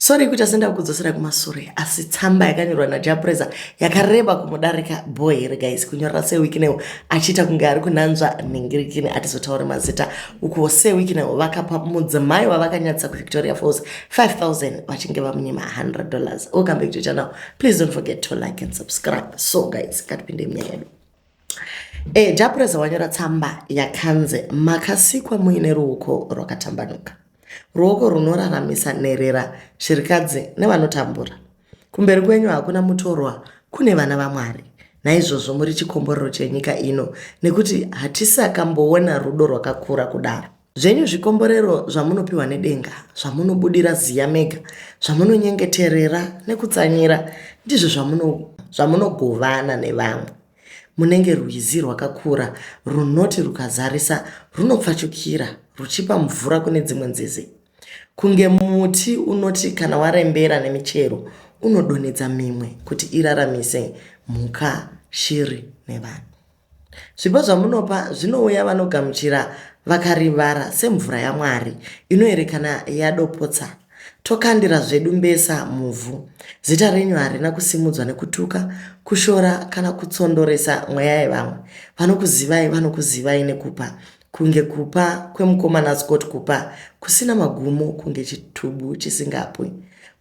Sorry kuita sendakudzosera kumasure asi tsamba yakanyorwa naJapreza yakareba kumudarika boy here guys kunyorera seWikinewo achiita kunge ari kunanzva nhingirikini atizotaure mazita ukuwo seWikinewo vakapa mudzimai wavakanyatsa kuVictoria Falls 5000 vachinge vamunyima 100 dollars welcome back to channel please don't forget to like and subscribe so guys ngatipinde munyaya yedu E, Japureza wanyora tsamba yakanzi makasikwa muine ruoko rwakatambanuka, ruoko runoraramisa nherera, shirikadzi nevanotambura. Kumberi kwenyu hakuna mutorwa, kune vana vaMwari. Naizvozvo muri chikomborero chenyika ino, nekuti hatisakamboona rudo rwakakura kudaro. Zvenyu zvikomborero zvamunopiwa nedenga, zvamunobudira ziya mega, zvamunonyengeterera nekutsanyira, ndizvo zvamunogovana nevamwe. Munenge rwizi rwakakura runoti rukazarisa runopfachukira ruchipa mvura kune dzimwe nzizi. Kunge muti unoti kana warembera nemichero unodonhedza mimwe kuti iraramise mhuka, shiri nevanhu. Zvipo zvamunopa zvinouya vanogamuchira vakarivara semvura yaMwari inoerekana yadopotsa tokandira zvedu mbesa muvhu. Zita renyu harina kusimudzwa nekutuka, kushora kana kutsondoresa mweya yevamwe. Vanokuzivai vanokuzivai nekupa Kunge kupa kwemukomana Scott kupa kusina magumo kunge chitubu chisingapwi.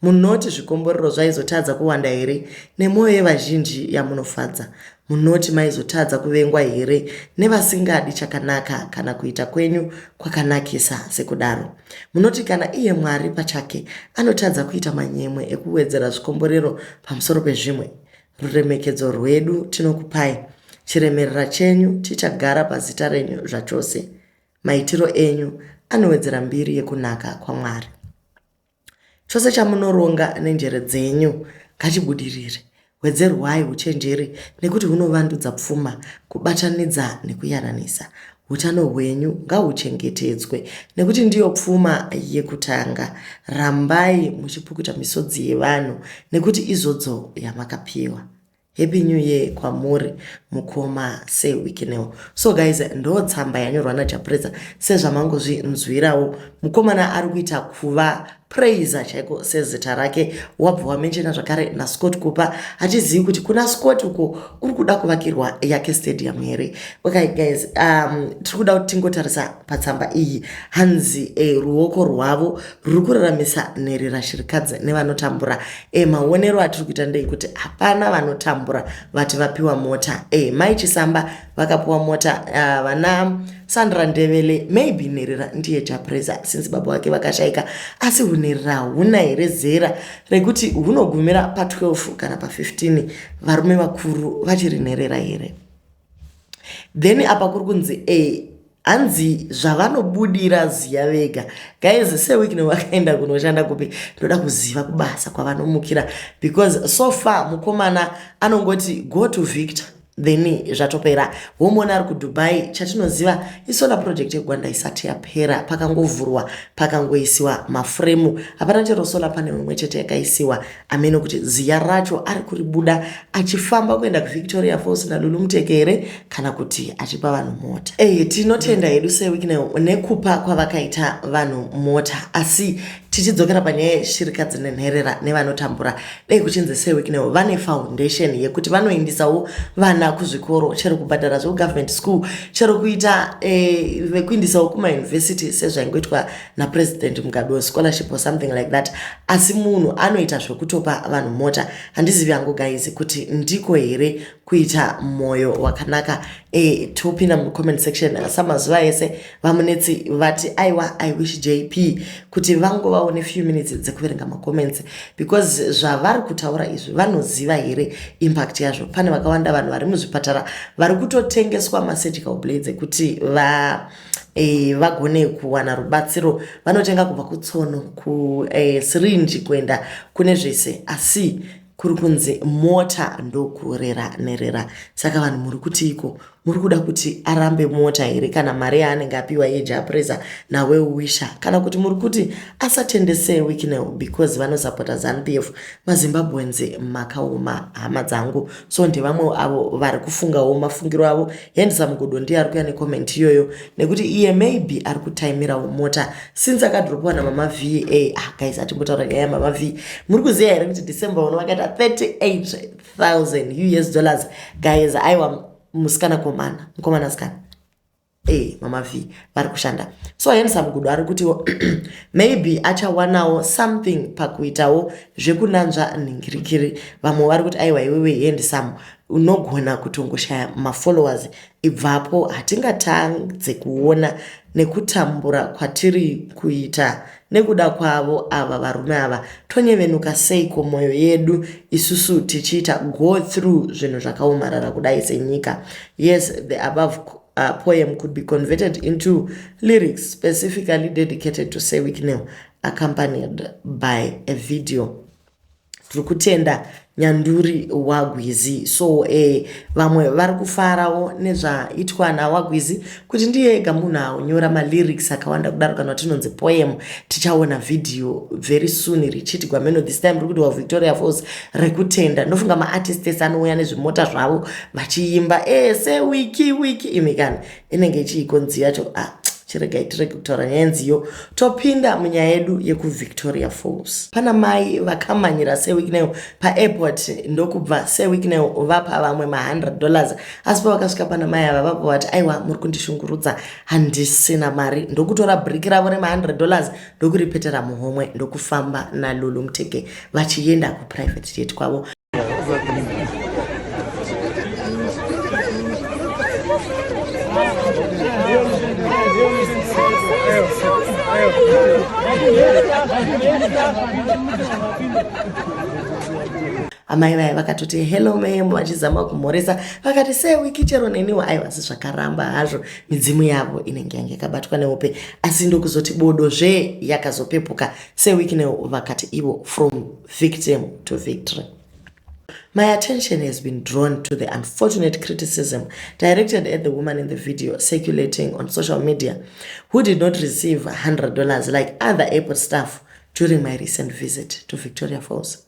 Munoti zvikomborero zvaizotadza kuwanda here nemwoyo yevazhinji yamunofadza? Munoti maizotadza kuvengwa here nevasingadi chakanaka kana kuita kwenyu kwakanakisa sekudaro? Munoti kana iye Mwari pachake anotadza kuita manyemwe ekuwedzera zvikomborero pamusoro pezvimwe? Ruremekedzo rwedu tinokupai, chiremerera chenyu chichagara pazita renyu zvachose. Maitiro enyu anowedzera mbiri yekunaka kwaMwari. Chose chamunoronga nenjere dzenyu ngachibudirire. Wedzerwai uchenjeri nekuti hunovandudza pfuma, kubatanidza nekuyananisa. Utano hwenyu ngahuchengetedzwe nekuti ndiyo pfuma yekutanga. Rambai muchipukuta misodzi yevanhu nekuti izodzo yamakapiwa. Happy new year kwamuri mukoma se wikineo. So guys ndo tsamba yanyorwa naJapureza sezvamangozvinzwirawo mukomana ari kuita kuva praiser chaiko sezita rake wabva wamenshena zvakare nascott kupa hatizivi kuti kuna scott uko kuri kuda kuvakirwa yake stadium here okay guys um, tiri kuda kuti tingotarisa patsamba iyi hanzi e, ruoko rwavo ruri kuraramisa nherera shirikadzi nevanotambura e, maonero atiri kuita ndei kuti hapana vanotambura vati vapiwa mota e, mai chisamba vakapiwa mota uh, vana sandra ndevele maybe nherera ndiye chapreza since baba vake vakashaika asi hunherera huna here zera rekuti hunogumira pa12 kana pa15 varume vakuru vachiri nherera here then apa kuri kunzi e hanzi zvavanobudira ziya vega guys sewikne wakaenda kunoshanda kupi ndoda kuziva kubasa kwavanomukira because so far mukomana anongoti go to victor then zvatopera womona ari kudubai chatinoziva isola project yegwanda isati yapera pakangovhurwa pakangoisiwa mafuremu hapana chero sola pane imwe chete yakaisiwa ameno kuti ziya racho ari kuribuda achifamba kuenda kuvictoria falls nalulu muteke here kana kuti achipa vanhu mota eye tinotenda hedu sewiknel nekupa kwavakaita vanhu mota asi tichidzokera panyaya yeshirikadzi nenherera nevanotambura dai kuchinzi sewiknel vane foundation yekuti vanoindisawo vana kuzvikoro chero kubhadhara zvekugovernment school chero kuita eh, vekuindisawo kumayunivhesiti sezvaingoitwa napresident mugabe wescholarship or something like that asi munhu anoita zvekutopa vanhu mota handizivi hangu guys kuti ndiko here kuita mwoyo wakanaka e, topinda mucomment section samazuva ese vamunetsi vati aiwa i wish jp kuti vangovawo nefew minutes dzekuverenga macomments because zvavari kutaura izvi vanoziva here impact yazvo pane vakawanda vanhu vari muzvipatara vari kutotengeswa masurgical blades ekuti va e, vagone kuwana rubatsiro vanotenga kubva kutsono kusirinji e, kuenda kune zvese asi kuri kunzi mota ndokurera nerera saka vanhu muri kuti iko muri kuda kuti arambe mota here kana mari yaanenge apiwa yejapresa nawe wisha kana kuti muri kuti asatendese wiknel because vanosapota zanupf mazimbabweans makaoma hama dzangu so ndevamwe avo vari kufungawo mafungiro avo handsome godo ndiye ari kuya necomment iyoyo nekuti iye maybe ari kutaimirawo mota since akadropiwa namama v a ah, guys atimbotaura nyaya yamama v muri kuziva here kuti december uno vakaita 38000 us dollars guys aiwa musikana komana mukomana sikana e eh, mama v vari kushanda so handsome godo ari kutiwo maybe achawanawo something pakuitawo zvekunanzva nhingirikiri vamwe vari kuti aiwa iwewe handsome unogona kutongoshaya mafollowers ibvapo hatingatadze kuona nekutambura kwatiri kuita nekuda kwavo ava varume ava tonyevenuka seiko mwoyo yedu isusu tichiita go through zvinhu zvakaomarara kudai senyika yes the above uh, poem could be converted into lyrics specifically dedicated to sewicknel accompanied by a video Tiri kutenda nyanduri wagwizi so eh, vamwe vari kufarawo nezvaitwa nawagwizi kuti ndiye ega munhu anyora malyrics akawanda kudaro kana tinonzi poem tichaona video very soon richiti gwameno this time rikuti wavictoria falls rekutenda ndofunga maartist ese anouya nezvimota zvavo vachiimba ese eh, wiki wiki imikana inenge chiiko nzi yacho ah, chiregai tirege kutaura nyaya nziyo topinda munyaya yedu yekuvictoria falls pana mai vakamanyira sewikneyo paairport ndokubva sewikneyo vapa vamwe ma100 dollars asi pavakasvika pana mai ava vapa vati aiwa muri kundishungurudza handisina mari ndokutora briki ravo rema100 dollars ndokuripetera muhomwe ndokufamba nalulu mtege vachienda kuprivate jet kwavo amai vaya vakatoti hello mam vachizama kumhoresa vakati sewiki chero neniwo aivasi zvakaramba hazvo midzimu yavo inenge yange yakabatwa nehope asi ndokuzoti bodo zve yakazopepuka sewicknel vakati ivo from victim to victory My attention has been drawn to the unfortunate criticism directed at the woman in the video circulating on social media, who did not receive $100 like other airport staff during my recent visit to Victoria Falls.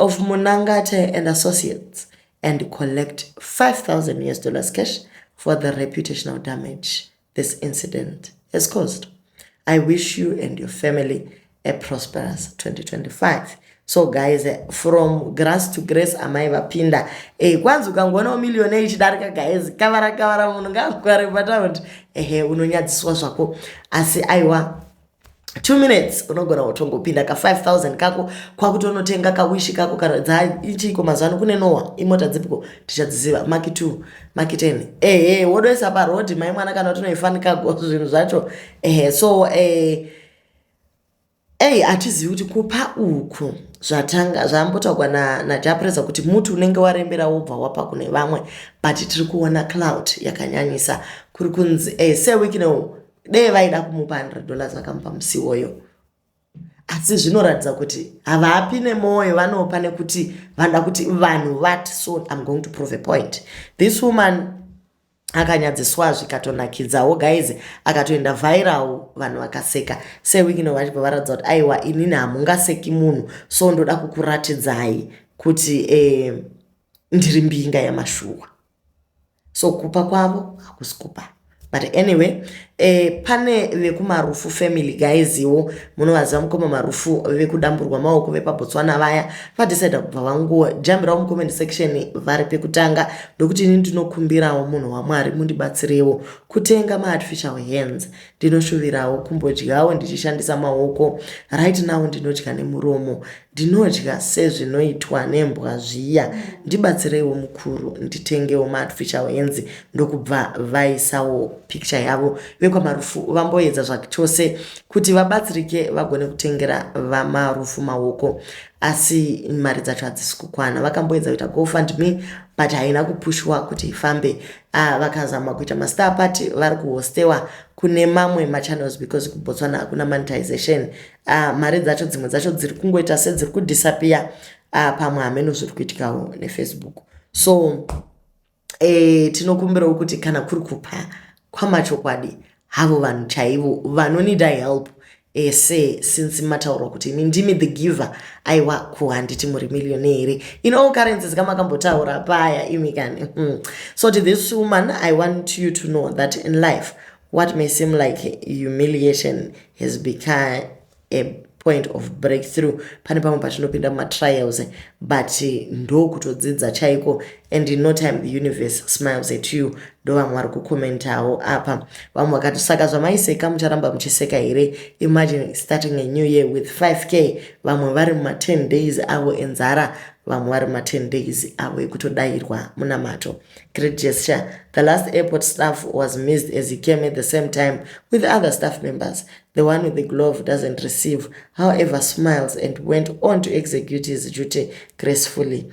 of Munangate and Associates and collect 5,000 US dollars cash for the reputational damage this incident has caused. I wish you and your family a prosperous 2025 so guys eh, from grass to grace amai vapinda e, kwanzi ukangoona umiliyone ichidarika guys kavara kavara munhu ngaakugware pataundi ehe unonyadziswa zvako asi aiwa two minutes unogona kutongopinda ka 5000 kako kwakutonotenga kawishi kako kana dzaichiiko mazuva ano kune nowa imota dzipiko tichadziziva maki t maki 10 ehe wodoisa parodi mai mwana kana tinoifanikago zvinhu zvacho ehe so eh, ei hatizivi kuti kupa uku zvatanga zvambotaurwa najapresa na kuti muti unenge warembera wobva wapa kune vamwe but tiri kuona cloud yakanyanyisa kuri kunzi eh, sewikinow dee vaida kumupa 100 dollars vakamupa musi iwoyo asi zvinoratidza kuti havapi nemwoyo vanopa nekuti vanoda kuti vanhu vati so im going to prove a point this woman akanyadziswa zvikatonakidzawo guys akatoenda viral vanhu vakaseka sewikino vachibva varatidza kuti aiwa inini hamungaseki munhu so ndoda kukuratidzai kuti eh, ndiri mbinga yamashuwa So kupa kwavo hakusi kupa. But anyway, eh, pane vekumarufu family guys iwo munovaziva mukoma marufu vekudamburwa maoko vepabotswana vaya vadecida kubva vangojambirawo mucomment section vari pekutanga ndokuti ini ndinokumbirawo munhu wamwari mundibatsirewo kutenga maartificial hands Ndinoshuvirawo kumbodyawo ndichishandisa maoko. Right now ndinodya nemuromo. Ndinodya sezvinoitwa nembwa zviya. Ndibatsireiwo mukuru nditengewo maartificial hands ndokubva vaisawo picture yavo vekwaMarufu vamboedza zvachose kuti vabatsirike vagone kutengera vaMarufu maoko asi mari dzacho hadzisi kukwana. Vakamboedza kuita gofundme but haina kupushwa kuti ifambe. Ah, vakazama kuita mastar party vari kuhostewa kune mamwe machannels because kubotswana hakuna monetization ah, mari dzacho dzimwe dzacho dziri kungoita sedziri kudisappear ah, pamwe hameno zviri kuitikawo nefacebook so eh, tinokumbirawo kuti kana kuri kupa kwamachokwadi havo vanhu chaivo vanonida help ese since mataurwa kuti imi ndimi the giver aiwa ko handiti muri millionaire here in all currencies kamakambotaura paya imi kani hmm. so to this woman i want you to know that in life what may seem like humiliation has become a point of breakthrough pane pamwe patinopinda mumatrials but ndokutodzidza chaiko and in no time the universe smiles at you ndo vamwe vari kucomentawo apa vamwe vakati saka zvamaiseka mucharamba muchiseka here imagine starting a new year with 5k vamwe vari muma 10 days avo enzara vamwe vari muma 10 days avo ekutodayirwa munamato great gesture the last airport staff was missed as he came at the same time with other staff members the one with the glove doesn't receive however smiles and went on to execute his duty gracefully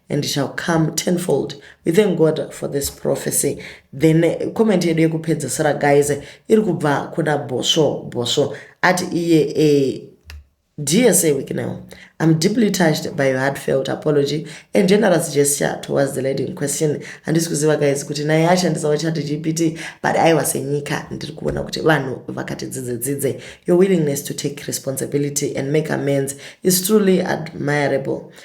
and shall come tenfold we thank god for this prophecy then eh, comment yedu yekupedzisira guys eh, iri kubva kuna bosvo bosvo ati iye e dsa weeknow i'm deeply touched by your heartfelt apology and generous gesture towards the lady in question handisi kuziva guys kuti naye ashandisawo chat gpt but aiwa senyika ndiri kuona kuti vanhu vakati dzidze dzidze your willingness to take responsibility and make amends is truly admirable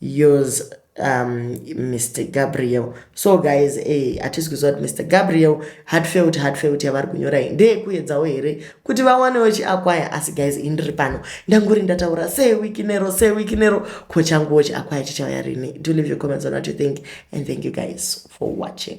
yours um, mr gabriel so guys eh, hatisi kuziva kuti mr gabriel hatfelt hatfelt yavari kunyora iyi ndeyekuedzawo here kuti vawanewo chiakwaya asi guys ini ndiri pano ndanguri ndataura sewiki nero sewiki nero ko changuwo chiakwaya chichauya rini do leave your comments on what you think and thank you guys for watching